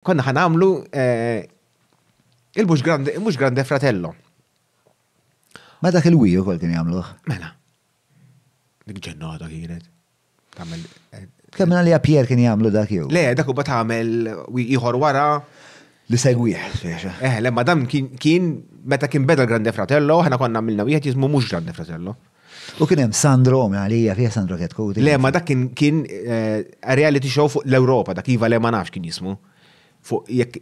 Konna ħa nagħmlu eh, il-mhux grande, mhux grande fratello. Ma dak il-wiju kol kien jagħmluh. Mela. Dik ġennata kienet. Tagħmel eh, Kemm li Pier kien jagħmlu dak jew. Le, dak huwa tagħmel ieħor wara. Li segwih, speċa. Eh, le, madam kien- kien meta kien beda l-Grande Fratello, ħana konna għamilna wieħed jismu mhux Grande Fratello. U kien hemm Sandro Għalija fih Sandro Ketkuti. Le, ma dak kien kien eh, reality show fuq l-Ewropa, dak iva le ma nafx kien jismu. Fuq jekk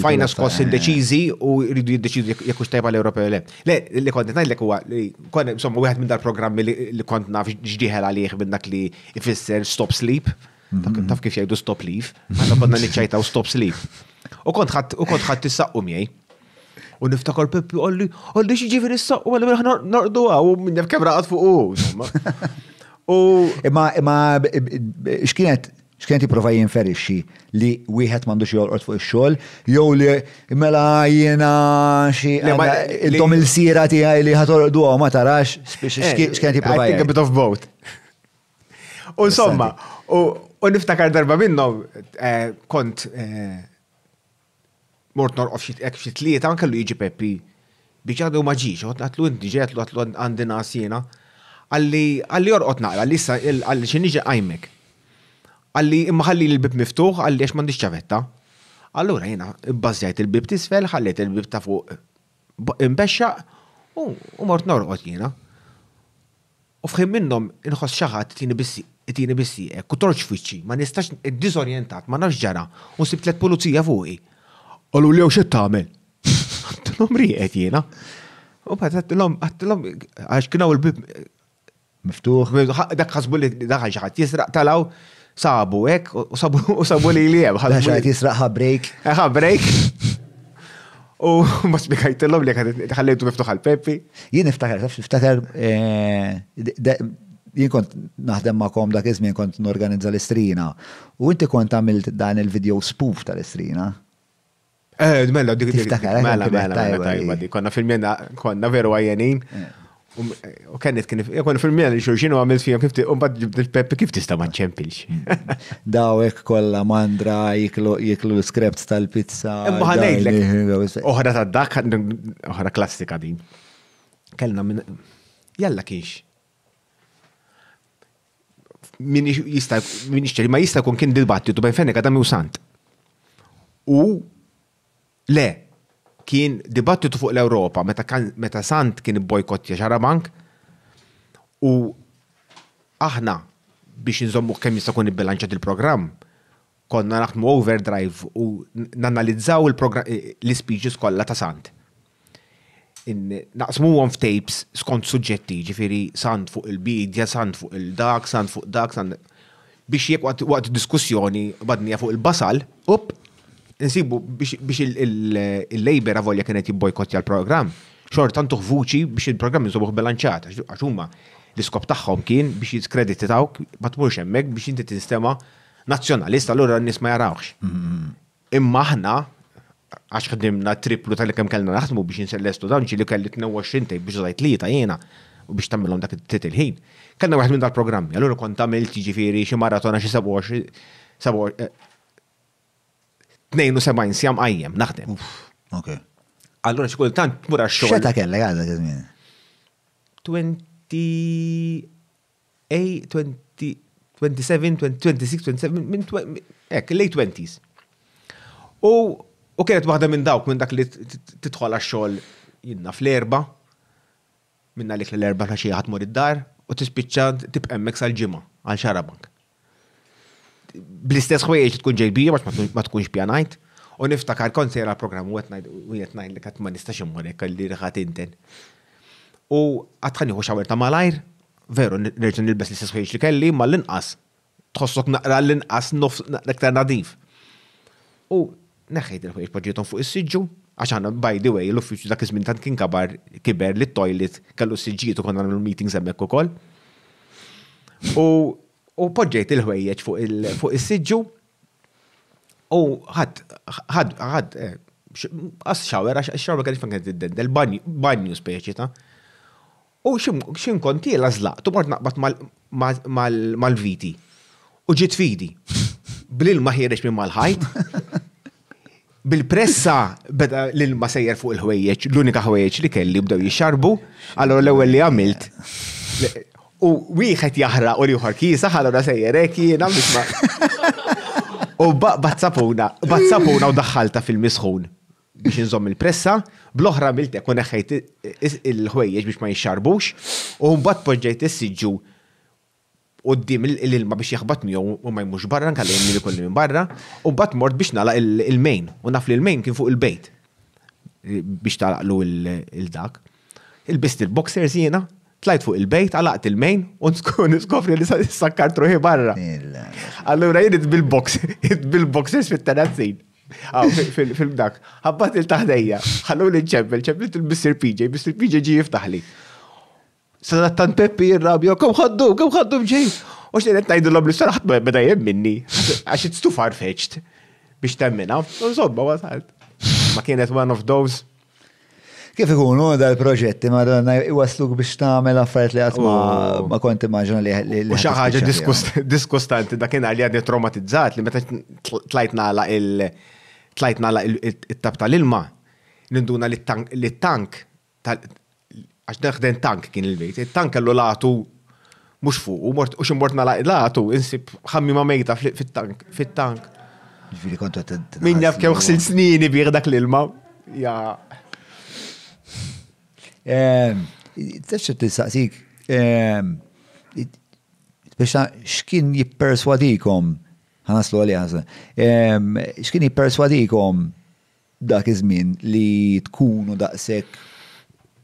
fajna skoss indeċiżi eh. u rridu jiddeċidu jekk hux tajba l-Ewropa le. Le, li kont ngħidlek huwa li kont insomma wieħed minn dal-programmi li kont naf x'ġieħel għalih minn dak li ifisser stop sleep. Mhm. Taf kif jgħidu stop leave, għandna konna niċċajtaw stop sleep. U kont ħadd u kont ħadd tissaqqu miegħi. U niftakar Peppi għalli, għalli xieġifiri s-saq, u għalli minna nardu għaw, u minna f'kemra għad fuq u. U. Imma, imma, xkienet, xkienet jiprofa jinferixxi li wieħed m'għandux jolqot fuq ix-xogħol, jew li mela jiena xi intom il-sira tiegħi li ħatolqdu ma tarax eh, xkienet jiprofa. I think a bit of both. U insomma, u niftakar darba minnhom eh, kont eh, Mort norqod f'xi hekk f'xi tlieta, kellu jiġi Peppi biex għadu ma ġiex, qgħod ngħidlu inti ġej, għidlu għidlu għandi ngħas jiena. Qalli qalli orqod naqra, qalli issa qalli xi niġi nqajmek. Qalli imma ħallili l-bieb miftuħ, qalli għax m'għandix ċavetta. Allura jiena bbażżajt il-bieb t'isfel, ħallejt il-bieb ta' fuq imxexxaq u mort norqod jiena. U f'ħin minnhom inħoss xi ħadd itini bis, itini bis-sieqek u torġ f'wiċċi, ma nistax, diżorjentat, ma nafx x'ġara, u sibt tliet pulizija fuqi. Qaluli hawn x'qed tagħmel? Għedtilhom rieqed jiena. U mbagħad għedtilhom, għedtilhom, għax kien hawn il-bieb miftuħ, dak ħasbu li daħal xi ħadd jisraq, talgħu, Sabu, ek, u sabu, u sabu li li jem. Għax għajt jisraq ħabrejk. Ħabrejk. U ma spiegħajtillom li ħallejtu miftuħ għal-Peppi. Jien niftakar, niftakar, eh, jien kont naħdem ma'kom dak iż-żmien kont norganizza l-istrina. U inti kont għamilt dan il-video spoof tal-istrina. Eh, mela, dik dik. Mela, mela, mela, tajba di. Konna fil-mjena, konna veru għajenin. Eh. Um, u kennet kien, konna fil-mjena li xurxin u għamil fija kif un bad il-peppi kif tista ma ċempilx. Dawek kolla mandra jiklu l-skrept tal-pizza. Imma ħanejdlek. Oħra ta' dak, oħra klassika din. Kellna minn, jalla kienx. min jista' min jixtri ma jista' jkun kien dibattitu bejn Fennek Adam u Sant. U le kien dibattitu fuq l-Ewropa meta meta Sant kien bojkottja xarabank u aħna biex nżommu kemm jista' jkun ibbilanċat il-programm Konna naħdmu overdrive u nanalizzaw l-speeches kollha ta' Sant. Naqsmuhom f'tapes skont suġġetti, ġifieri Sant fuq il-bidja, Sant fuq il-dak, Sant fuq dak, Sant biex jekk waqt diskussjoni badnija fuq il-basal, up, insibu biex il-Labour avolja kienet jibbojkottja l-programm, xorta ntuh vuċi biex il-programm inżommuh bilanċjat, għax huma l-iskop tagħhom kien biex jiskreditawk ma tmurx hemmhekk biex inti tinstema' Nazzjonalist allura n-nies ma jarawx. Imma aħna għax ħdimna triplu tal kemm kellna naħdmu biex insellestu dan ġili kelli 22 tejb biex żajt li ta' jiena u biex tagħmilhom dak it-tit il-ħin. Kellna wieħed minn dal-programmi, allura kont tagħmilt jiġifieri xi maratona xi 27 eh, sjam qajjem naħdem. Ok. Allura xi kultant tmur għax-xogħol. Xeta kellek għadha kien 20 A 20, 27, 26, 27, minn ek, late 20s. U, u kienet waħda minn dawk minn dak li titħol għax-xogħol jinna fl-erba, minna li l-erba ta' xi ħadd mur id-dar, u tispiċċa tibqemmek sal-ġimgħa għal xarabank. bl-istess ħwejjeġ li tkun ġejbija għax ma tkunx pjanajt. U niftakar kont sejra l-programm u qed ngħid li qatt ma nistax immur hekk li rħat inten. U għatħani hu xawer ta' malajr, veru nerġa' nilbes l-istess ħwejjeġ li kelli ma l-inqas tħossok naqra l-inqas nofs naqra iktar nadif. U Neħħejt il-ħwejjeġ poġġejthom fuq is-siġġu, għax aħna by the way l-uffiċċju dak iż-żmien tant kien kabar kiber li t-toilet kellu s-siġġijiet u konna nagħmlu l-meetings hemmhekk ukoll. U poġġejt il-ħwejjeġ fuq is-siġġu u ħadd ħadd għas shower għax ix-shower kienet fejn kienet tiddendel, banju speċi ta'. U x'imkun kontiela żlaqt u mort naqbad mal-viti. U ġiet fidi. Bl-ilma ħiereġ minn mal-ħajt. Bil-pressa beda l-ilma sejjer fuq il-ħwejjeġ, l-unika ħwejjeġ li kelli bdew jixxarbu, allura l-ewwel li għamilt. U wieħed jaħraq u l-ieħor kiesaħ, allura sejjer hekk jiena biex ma. U baqbad sapuna, baqbad sapuna u daħħaltha fil-misħun. biex inżomm il-pressa, bl-oħra miltek u neħħejt il-ħwejjeġ biex ma jixxarbux, u mbagħad poġġejt is-siġġu qudiem l-ilma biex jaħbat miegħu u ma jmux barra nkalla jimli kolli minn barra, u mbagħad mort biex nagħlaq il-main u naf li l-main kien fuq il-bejt biex tagħlaqlu il-dak. Il-bist il-boxers jiena, tlajt fuq il-bejt, għalaqt il-main, u niskofri li sakkart ruħi barra. Allura jien bil-box, bil-boxers fit-terazzin. Aw, film dak, ħabbat il-taħdejja, ħallu li ċempel, ċemplet il-Mr. PJ, Mr. PJ ġi jiftaħli. Sadat tan Peppi jirrabja, kum ħaddu, kum ħaddu mġej. U xejn qed ngħidu l-obli sar ħadd beda jemminni, għax it's too far fetched biex temmina. Insomma, wasalt. Ma kienet one of those Kif ikun hu dal-proġetti madonna iwasluk biex tagħmel affarijiet li qatt ma kont immaġina li li. Xi ħaġa diskustanti dakinhar li għadni traumatizzat li meta tlajt nagħlaq il- tlajt nagħlaq it-tab tal-ilma ninduna li t-tank għax dan ħden tank kien il-bejt, it-tank kellu latu mhux fuq, u mort u xi mort nagħlaq latu insib ħammima mejta fit-tank, fit-tank. Ġifieri kont qed Min jaf kemm ħsil snini bih dak l-ilma. Ja. Ehm, Tista' tistaqsik, ehm, biex x'kien jipperswadikom, ħanaslu għalija ħasna, ehm, x'kien jipperswadikom Dak iż-żmien li tkunu daqshekk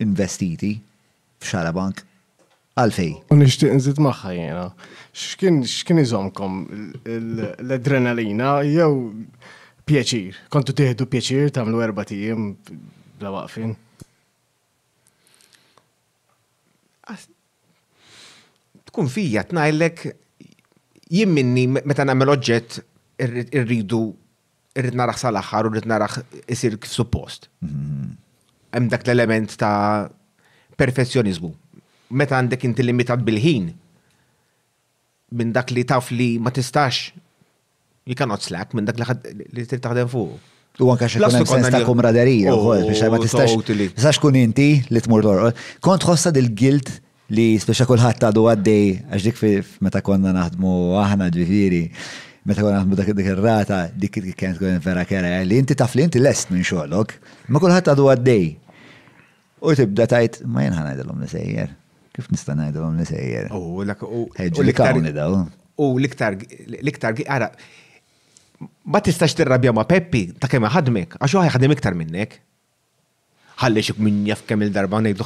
investiti f'Xarabank. Għalfejn? U nixtieq nżid magħha jiena. X'kien x'kien iżommkom? L-adrenalina jew pjaċir? Kontu tieħdu pjaċir tagħmlu erbat ijiem bla waqfien? Tkun fija tnajlek jien minni meta nagħmel oġġett irridu irrid naraħ sal-aħħar u rrid naraħ isir kif suppost. Hemm dak l-element ta' perfezzjonizmu. Meta għandek inti limitat bil-ħin, minn dak li taf li ma tistax you cannot slack minn dak li trid taħdem fuq. U anka xi kien sens ta' kumraderija wkoll biex ma tistax. Tistax kun inti li tmur lor. Kont ħossa dil-gilt li speċa kulħadd għadu għaddej għax dik meta konna naħdmu aħna ġifieri meta konna naħdmu dak dik ir-rata dik kienet tkun vera kera li inti taf li inti lest minn xogħlok, ma kulħadd għadu għaddej. U tibda tajt ma jien ħanajdilhom li sejjer. Kif nista' ngħidilhom li sejjer? U l-iktar l-iktar ara ma tistax tirrabja ma' Peppi ta' kemm ħadmek għax huwa ħadem iktar minnek. Ħalli xi min jaf kemm il-darba ngħidlu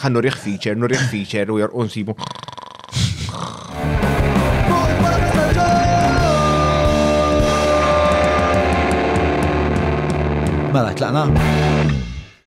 ħa nurih feature, nurih feature u jorqu nsibu. Mela, tlaqna?